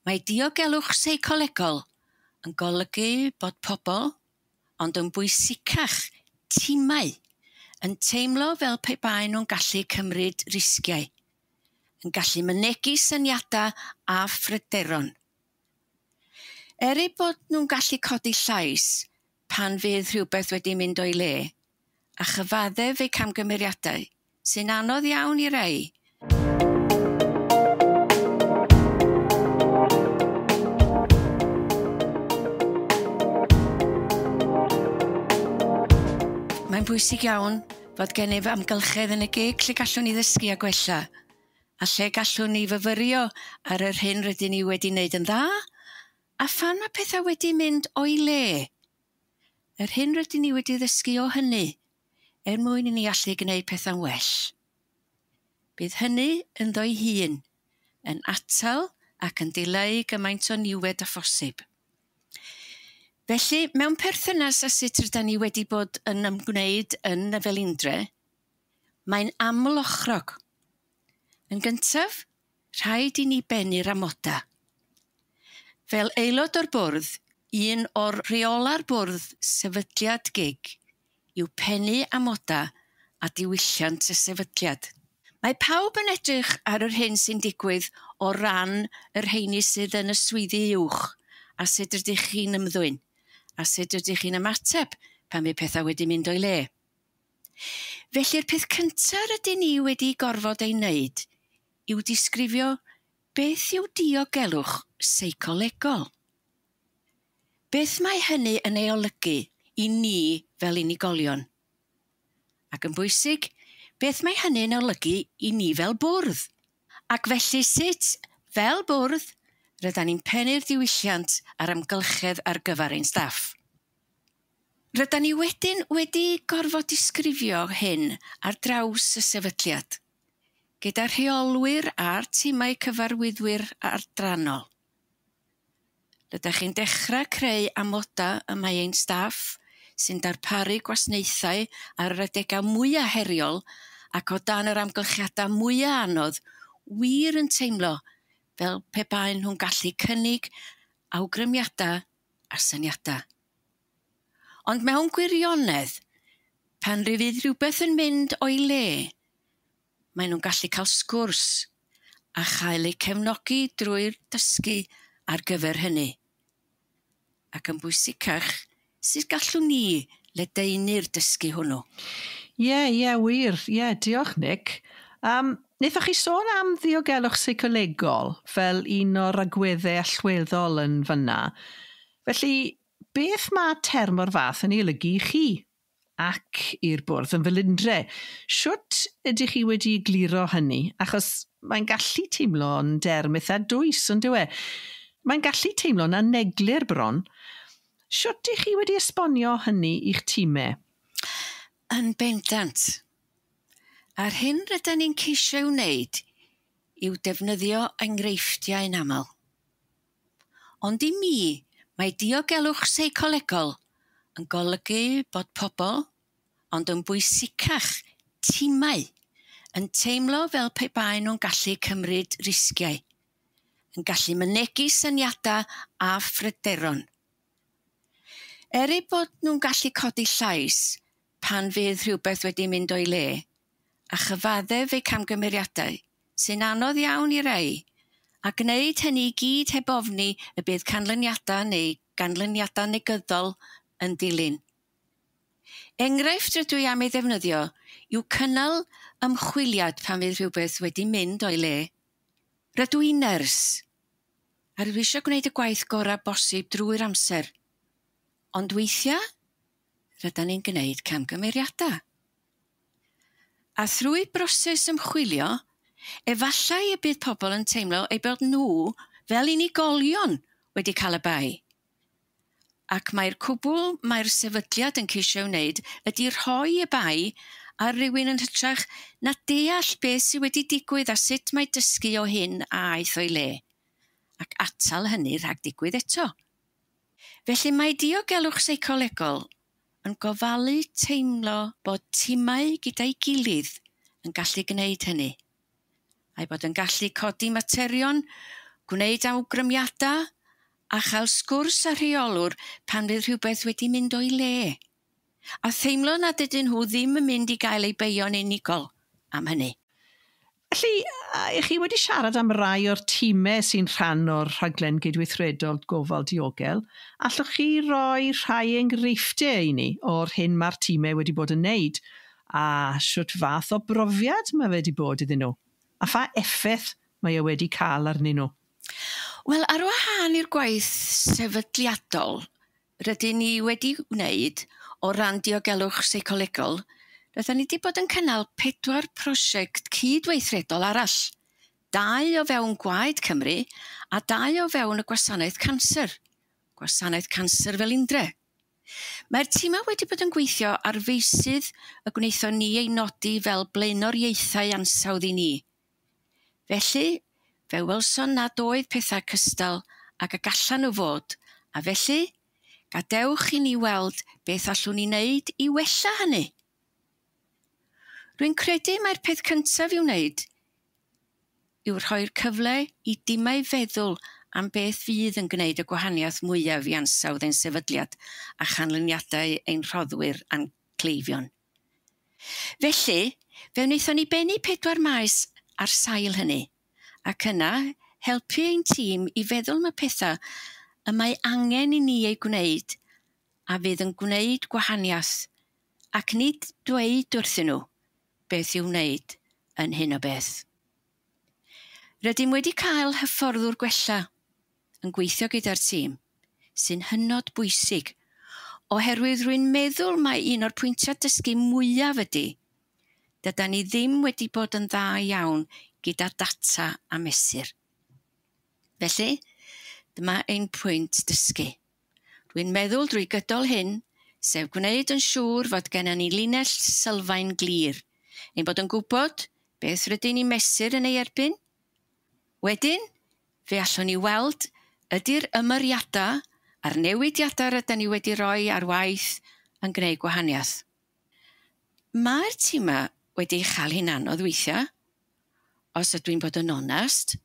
Mae diogelwch seicolegol yn golygu bod pobl, ond yn bwysicach, timau, yn teimlo fel pe baen nhw'n gallu cymryd risgiau, yn gallu mynegi syniadau a phryderon. Er eu bod nhw'n gallu codi llais pan fydd rhywbeth wedi mynd o'i le, a chyfaddef ei camgymeriadau, sy'n anodd iawn i rai. Mae'n bwysig iawn fod gennyf amgylchedd yn y gig lle gallwn ni ddysgu a gwella, a lle gallwn ni fyfyrio ar yr hyn rydyn ni wedi wneud yn dda, a phan mae pethau wedi mynd o'i le, Yr hyn rydyn ni wedi ddysgu o hynny, er mwyn i ni allu gwneud pethau'n well. Bydd hynny, ynddo'i hun, yn atal ac yn dileu gymaint o niwed â phosib. Felly, mewn perthynas â sut rydyn ni wedi bod yn ymgwneud yn y Felindre, mae'n amlochrog. Yn gyntaf, Rhaid i ni bennu'r amodau. Fel aelod o'r bwrdd, un o'r rheolau'r bwrdd sefydliad gig yw pennu amodau a diwylliant y sefydliad. Mae pawb yn edrych ar yr hyn sy'n digwydd o ran y rheini sydd yn y swyddi uwch a sut rydych chi'n ymddwyn a sut rydych chi'n ymateb pan fydd pethau wedi mynd o'i le. Felly'r peth cynta' rydyn ni wedi gorfod ei wneud yw disgrifio beth yw diogelwch seicolegol. Beth mae hynny yn ei olygu i ni fel unigolion? Ac yn bwysig, beth mae hynny'n olygu i ni fel bwrdd? Ac felly sut, fel bwrdd, rydan ni'n pennu'r diwylliant a'r amgylchedd ar gyfer ein staff? Rydan ni wedyn wedi gorfod disgrifio hyn ar draws y sefydliad, gyda rheolwyr a'r timau cyfarwyddwyr adrannol. Rydych chi'n dechrau creu amodau y mae ein staff sy'n darparu gwasnaethau ar yr adegau mwyaf heriol ac o dan yr amgylchiadau mwyaf anodd wir yn teimlo fel pe baen nhw'n gallu cynnig awgrymiadau a syniadau. Ond mewn gwirionedd, pan fydd rhywbeth yn mynd o'i le, maen nhw'n gallu cael sgwrs a chael eu cefnogi drwy'r dysgu ar gyfer hynny. Ac yn bwysicach, sut gallwn ni ledaenu'r dysgu hwnnw? Ie, ie, wir. Ie, diolch, Nick. Yym, wnaethoch chi sôn am ddiogelwch seicolegol fel un o'r agweddau allweddol yn fan'na. Felly, beth mae term o'r fath yn ei olygu i chi? Ac i'r Bwrdd yn Felindre, shwt ydych chi wedi egluro hynny? Achos mae'n gallu teimlo'n derm eitha dwys, yn dyw e? Mae'n gallu teimlo'n aneglur bron. Shwt dych chi wedi esbonio hynny i'ch timau? Yn bendant. A'r hyn rydyn ni'n ceisio ei wneud yw defnyddio enghreifftiau'n aml. Ond i mi, mae diogelwch seicolegol yn golygu bod pobl, ond yn bwysicach, timau, yn teimlo fel pe baen nhw'n gallu cymryd risgiau, yn gallu mynegi syniadau a phryderon. Er eu bod nhw'n gallu codi llais pan fydd rhywbeth wedi mynd o'i le, a chyfaddef eu camgymeriadau, sy'n anodd iawn i rai, a gwneud hynny i gyd heb ofni y bydd canlyniadau neu ganlyniadau negyddol yn ddilyn. Enghraifft rydw i am ei ddefnyddio yw cynnal ymchwiliad pan fydd rhywbeth wedi mynd o'i le. Rydw i'n nyrs, a rydw i eisiau gwneud y gwaith gorau bosib drwy'r amser, ond weithiau rydan ni'n gwneud camgymeriadau. A thrwy broses ymchwilio, efallai y bydd pobl yn teimlo eu bod nhw, fel unigolion, wedi cael y bai. Ac mai'r cwbl mae'r sefydliad yn ceisio ei wneud ydy rhoi y bai ar rywun yn hytrach na deall beth sydd wedi digwydd a sut mae dysgu o hyn a aeth o'i le, ac atal hynny rhag digwydd eto. Felly mae diogelwch seicolegol yn gofalu teimlo bod timau gyda'i gilydd yn gallu gwneud hynny, a'i bod yn gallu codi materion, gwneud awgrymiadau a chael sgwrs â rheolwr pan fydd rhywbeth wedi mynd o'i le. a theimlo nad ydyn nhw ddim yn mynd i gael eu beio'n unigol am hynny. Felly, ych chi wedi siarad am rai o'r timau sy'n rhan o'r Rhaglen Gydweithredol Gofal Diogel, allwch chi roi rhai enghreifftiau i ni o'r hyn mae'r timau wedi bod yn wneud, a shwt fath o brofiad mae fe wedi bod iddyn nhw, a pha effaith mae e wedi cael arnyn nhw? Wel, ar wahân i'r gwaith sefydliadol, rydyn ni wedi wneud o ran diogelwch seicolegol, rydyn ni wedi bod yn cynnal pedwar prosiect cyd-weithredol arall, dau o fewn Gwaed Cymru a dau o fewn y Gwasanaeth Canser, Gwasanaeth Canser Felindre. Mae'r timau wedi bod yn gweithio ar feysydd y gwnaethon ni eu nodi fel blaenoriaethau ansawdd i ni, Felly, fe welson nad oedd pethau cystal ag y gallan nhw fod, a felly, gadewch i ni weld beth allwn ni wneud i wella hynny. Rwy'n credu mai'r peth cyntaf i'w wneud yw rhoi'r cyfle i dimau feddwl am beth fydd yn gwneud y gwahaniaeth mwyaf i ansawdd ein sefydliad a chanlyniadau ein rhoddwyr a'n cleifion. Felly, fe wnaethon ni bennu pedwar maes ar sail hynny, ac yna helpu ein tîm i feddwl am y pethau y mae angen i ni eu gwneud a fydd yn gwneud gwahaniaeth, ac nid dweud wrthyn nhw beth i'w wneud yn hyn o beth. Rydym wedi cael hyfforddwr gwella. yn gweithio gyda'r tîm, sy'n hynod bwysig, oherwydd rwy'n meddwl mai un o'r pwyntiau dysgu mwyaf ydy, dydan ni ddim wedi bod yn dda iawn gyda data a mesur. Felly, dyma ein pwynt dysgu. Rwy'n meddwl drwy gydol hyn, sef gwneud yn siŵr fod gennym ni linell sylfaen glir, ein bod yn gwybod beth rydyn ni'n mesur yn ei erbyn, Wedyn, fe allwn ni weld ydy'r ymyriadau a'r newidiadau rydyn ni wedi rhoi ar waith yn gwneud gwahaniaeth. Mae'r timau wedi chael hi'n anodd weithiau, os ydw i'n bod yn onest,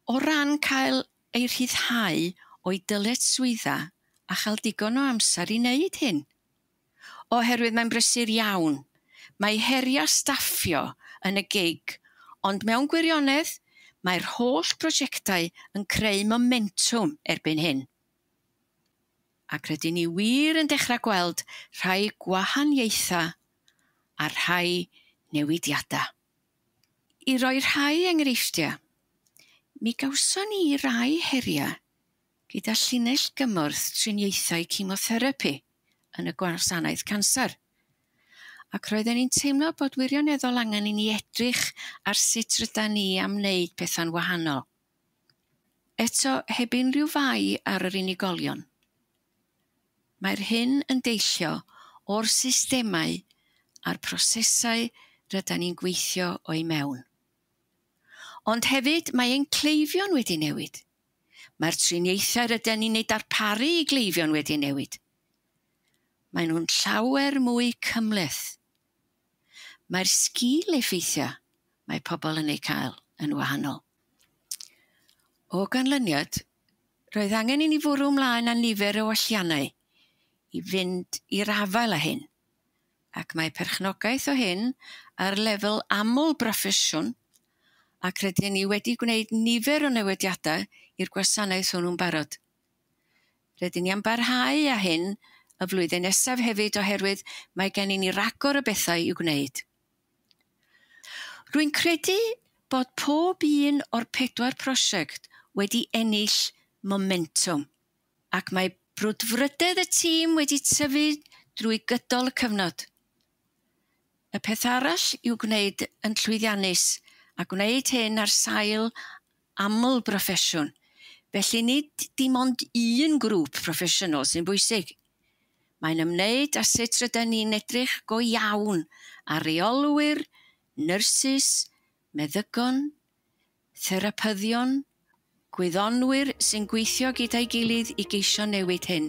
o ran cael eu rhyddhau o'u dyletswyddau a chael digon o amser i wneud hyn. oherwydd mae'n brysur iawn. Mae heriau staffio yn y gig, ond mewn gwirionedd, mae'r holl brosiectau yn creu momentwm erbyn hyn. Ac rydyn ni wir yn dechrau gweld rhai gwahaniaethau a rhai newidiadau. I roi rhai enghreifftiau, mi gawson ni rai heriau gyda llinell gymorth triniaethau cemotherapi yn y gwasanaeth canser, ac roedden ni'n teimlo bod wirioneddol angen i ni edrych ar sut rydan ni am wneud pethau'n wahanol. Eto, heb unrhyw fai ar yr unigolion, mae'r hyn yn deillio o'r systemau a'r prosesau rydan ni'n gweithio o'u mewn. Ond hefyd, mae ein cleifion wedi newid. Mae'r triniaethau rydyn ni'n eu darparu i gleifion wedi newid. Maen nhw'n llawer mwy cymhleth. Mae'r sgil-effeithiau mae pobl yn eu cael yn wahanol. O ganlyniad, roedd angen i ni fwrw ymlaen â nifer o welliannau i fynd i'r afael â hyn. ac mae perchnogaeth o hyn ar lefel aml broffesiwn ac rydyn ni wedi gwneud nifer o newidiadau i'r gwasanaeth hwnnw'n barod. Rydyn ni am barhau â hyn y flwyddyn nesaf hefyd oherwydd mae gen i ni ragor o bethau i'w gwneud. Rwy'n credu bod pob un o'r pedwar prosiect wedi ennill momentwm. ac mae brwdfrydedd y tîm wedi tyfu drwy gydol y cyfnod. Y peth arall i'w gwneud yn llwyddiannus, a gwneud hyn ar sail aml broffesiwn, felly nid dim ond un grŵp proffesiynol sy'n bwysig. Mae'n ymwneud â sut rydyn ni'n edrych go iawn ar reolwyr, nyrsys, meddygon, Therapyddion, gwyddonwyr sy'n gweithio gyda'i gilydd i geisio newid hyn.